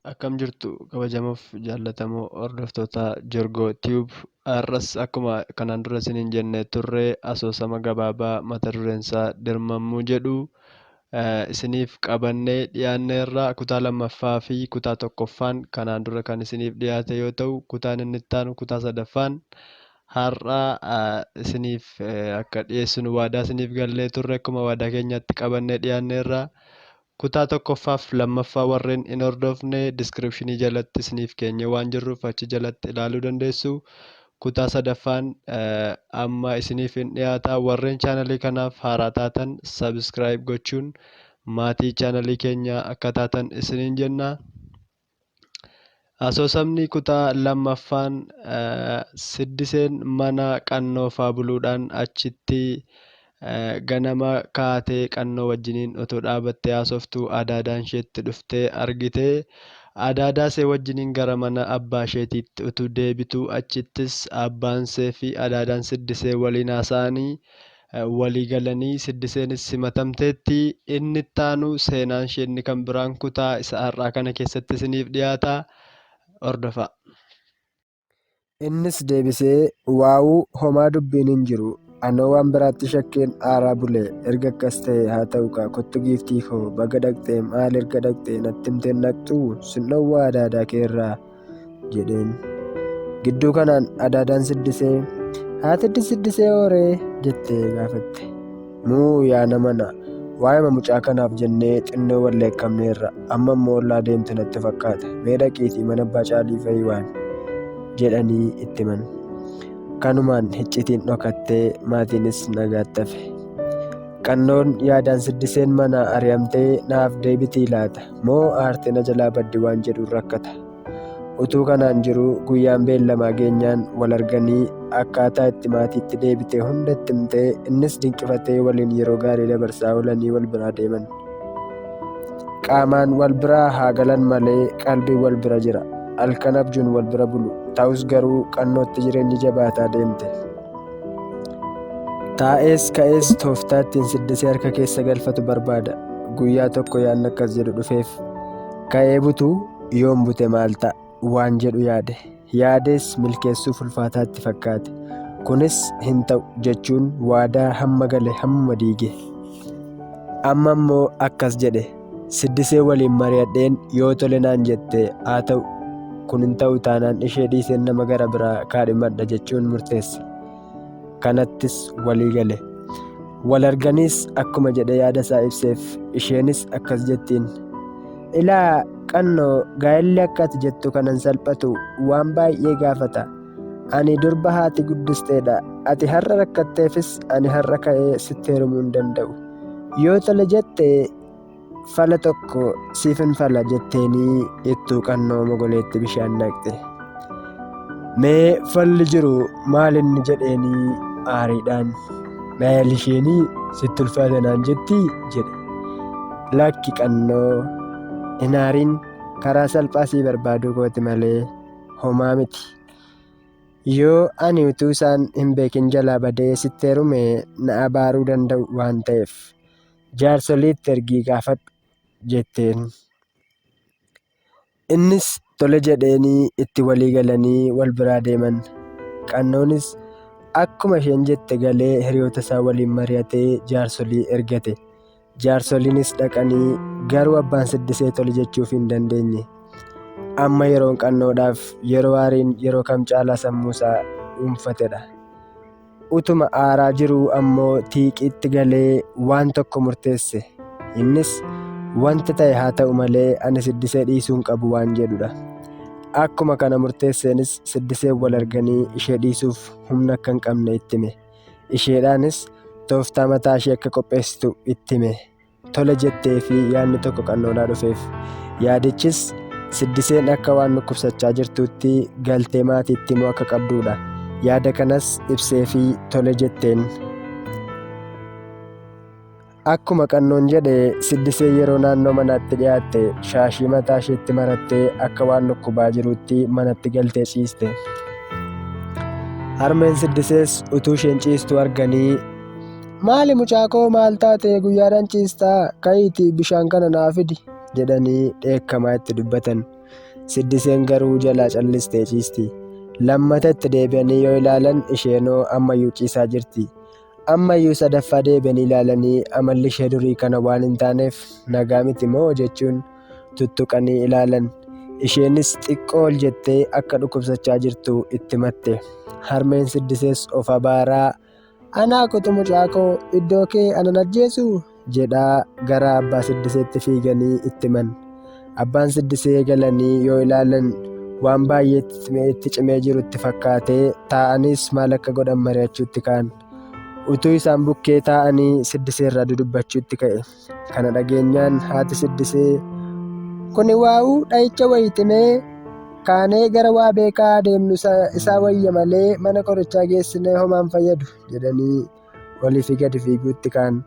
akkam jirtu kabajamoof jaallatamoo hordoftoota Jorgoo Tube har'as akkuma kanaan dura isiniin jennee turre asoosama gabaabaa mata dureen isaa dirmammuu jedhu isiniif qabannee dhiyaanneerra. Kutaa lammaffaa fi kutaa tokkoffaan kanaan dura kan isiniif dhiyaate yoo ta'u, kutaan inni itti aanu kutaa sadaffaan har'a isiniif akka dhiyeessinu waadaa isiniif gallee turre akkuma waadaa keenyaatti qabannee dhiyaanneerra. Kutaa tokkoffaaf lammaffaa warreen hin hordofne diskiripshinii jalatti isiniif keenyee waan jirruuf achi jalatti ilaaluu dandeessu. Kutaa sadaffaan amma isiniif hin dhiyaata. Warreen chaanalii kanaaf haaraa taatan subscribe gochuun maatii chaanalii keenyaa akka taatan isiniin jenna. Asoosamni kutaa lammaffaan siddiseen mana qannoofaa buluudhaan achitti Ganama kaatee Qannoo wajjiniin utuu dhaabattee haasoftuu Adaadaan isheetti dhuftee argite. Adaadaasee wajjiniin gara mana abbaasheetiitti utuu deebituu achittis abbaanseefi Adaadaan Siddisee waliin haasa'anii walii galanii Siddiseenis simatamteetti. Inni ittaanu seenaanshee inni kan biraan kutaa isa har'aa kana keessatti isiniif dhiyaata. Hordofaa! Innis deebisee, Waawuu, homaa dubbiin hin jiru. Anoo waan biraatti shakkeen aaraa bule. Erga akkas ta'e haa ta'u kaa kottu giiftii koo baga dhaqxee maal erga dhaqxee natti himteen dhaqxuu sin dhowwaa adaadaa kee irraa jedheen. Gidduu kanaan adaadaan siddisee haati siddisee hooree jettee gaafatte. Muu yaa nama na. Waa'ima mucaa kanaaf jennee xinnoo wal leekkamneerra. Amma immoo ollaa deemte natti fakkaata. Mee dhaqiitii mana abbaa caalii fa'i waan jedhanii itti himan. Kanumaan hiccitiin dhokattee maatiinis nagaatti hafe. Qannoon yaadaan siddiseen manaa ari'amtee naaf deebitii laata? Moo aartee na jalaa baddi waan jedhuun rakkata? Utuu kanaan jiruu guyyaan beellamaa geenyaan wal arganii akkaataa itti maatiitti deebite hunda itti himtee innis dinqifatee waliin yeroo gaarii dabarsaa oolanii wal biraa deeman. Qaamaan wal biraa haa galan malee qalbiin wal bira jira. Halkan abjuun wal bira bulu. Ta'us garuu qannootti jireenyi jabaataa deemte. Taa'ees ka'ees tooftaa ittiin siddisee harka keessa galfatu barbaada. Guyyaa tokko yaadni akkas jedhu dhufeef. Ka'ee butuu Yoon bute maal ta'a waan jedhu yaade. Yaadees milkeessuuf ulfaataatti fakkaate. Kunis hin ta'u jechuun waadaa hamma gale hammuma diige. Amma immoo akkas jedhe. Siddisee waliin mari'adheen yoo tole naan jette haa ta'u. Kun hin ta'u taanaan ishee dhiiseen nama gara biraa kaadhimadha jechuun murteesse. kanattis walii gale. Wal arganiis akkuma jedhe yaada isaa ibseef isheenis akkas jettiin. Ilaa qannoo gaa'elli akka ati jettu kanan salphatu waan baay'ee gaafata. Ani durba haati guddisteedha. Ati har'a rakkatteefis ani har'a ka'ee sitti heerumuu hin danda'u. Yoo tole jette Fala tokko siifin fala jetteenii ittuu qannoo mogoleetti bishaan naqxe. Mee falli jiru maal inni jedheenii aariidhaan. Maal isheenii sitti ulfaata naan jetti jedhe. Lakki qannoo hin aariin karaa salphaa sii barbaaduu kooti malee homaa miti. Yoo ani utuu isaan hin beekin jalaa badee sitti heerume na abaaruu danda'u waan ta'eef. jaarsoliitti ergii gaafadhu jetteen. Innis tole jedheenii itti walii galanii wal biraa deeman. Qannoonis akkuma isheen jette galee hiriyoota isaa waliin mari'atee jaarsolii ergate. Jaarsoliinis dhaqanii garuu abbaan siddisee tole jechuuf hin dandeenye. Amma yeroon qannoodhaaf yeroo aariin yeroo kam caalaa sammuu isaa dhuunfatedha. Utuma aaraa jiruu ammoo tiiqiitti galee waan tokko murteesse. Innis wanti ta'e haa ta'u malee ani siddisee dhiisuu hin qabu waan jedhudha. Akkuma kana murteesseenis siddisee wal arganii ishee dhiisuuf humna akka hin qabne itti hime. Isheedhaanis tooftaa mataa ishee akka qopheessitu itti hime. tola jettee fi yaadni tokko qannoodhaa dhufeef yaadichis siddiseen akka waan dhukkubsachaa jirtuutti galtee maatiitti immoo akka qabduudha yaada kanas ibsee fi tole jetteen akkuma qannoon jedhe siddisee yeroo naannoo manaatti dhiyaatte shaashii mataa isheetti marattee akka waan dhukkubaa jiruutti manatti galtee ciiste harmeen siddisees utuu isheen ciistuu arganii Maali mucaakoo maal taate guyyaadhaan ciistaa ka'iitii bishaan kana naa fidi jedhanii dheekkamaa itti dubbatan. Siddiseen garuu jalaa callistee ciisti. Lammata itti deebi'anii yoo ilaalan isheenoo ammayyuu ciisaa jirti. Ammayyuu sadaffaa deebi'anii ilaalanii amalli ishee durii kana waan hin taaneef nagaa miti moo jechuun tuttuqanii ilaalan. Isheenis xiqqoo ol jettee akka dhukkubsachaa jirtu itti matte. Harmeen siddisees of abaaraa Anaa kotu mucaa koo iddoo kee anan ajjeesu jedhaa gara abbaa siddiseetti fiiganii itti himan. Abbaan siddisee galanii yoo ilaalan waan baay'ee itti cimee jiru itti fakkaatee taa'anis maal akka godhan mari'achuutti ka'an. Utuu isaan bukkee taa'anii siddiseerraa dudubbachuutti ka'e. Kana dhageenyaan haati siddisee kuni waa'uu dha'icha wayitimee kaanee gara waa beekaa deemnu isaa wayya malee mana qorichaa geessinee homaan fayyadu jedhanii olii fi gadi fiiguutti kaan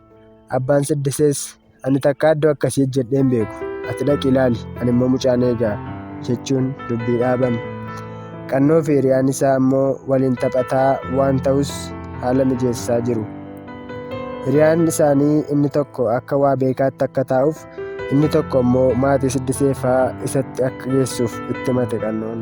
abbaan siddisees ani takka iddoo akkasii jedheen beeku ati dhaqi ilaali ani immoo mucaan eegaa jechuun dubbii dhaaban qannoo fi hiriyaan isaa ammoo waliin taphataa waan ta'us haala mijeessaa jiru. Hiriyaan isaanii inni tokko akka waa beekaatti akka taa'uuf inni tokko immoo maatii siddisee fa'aa isatti akka geessuuf itti himate qannoon.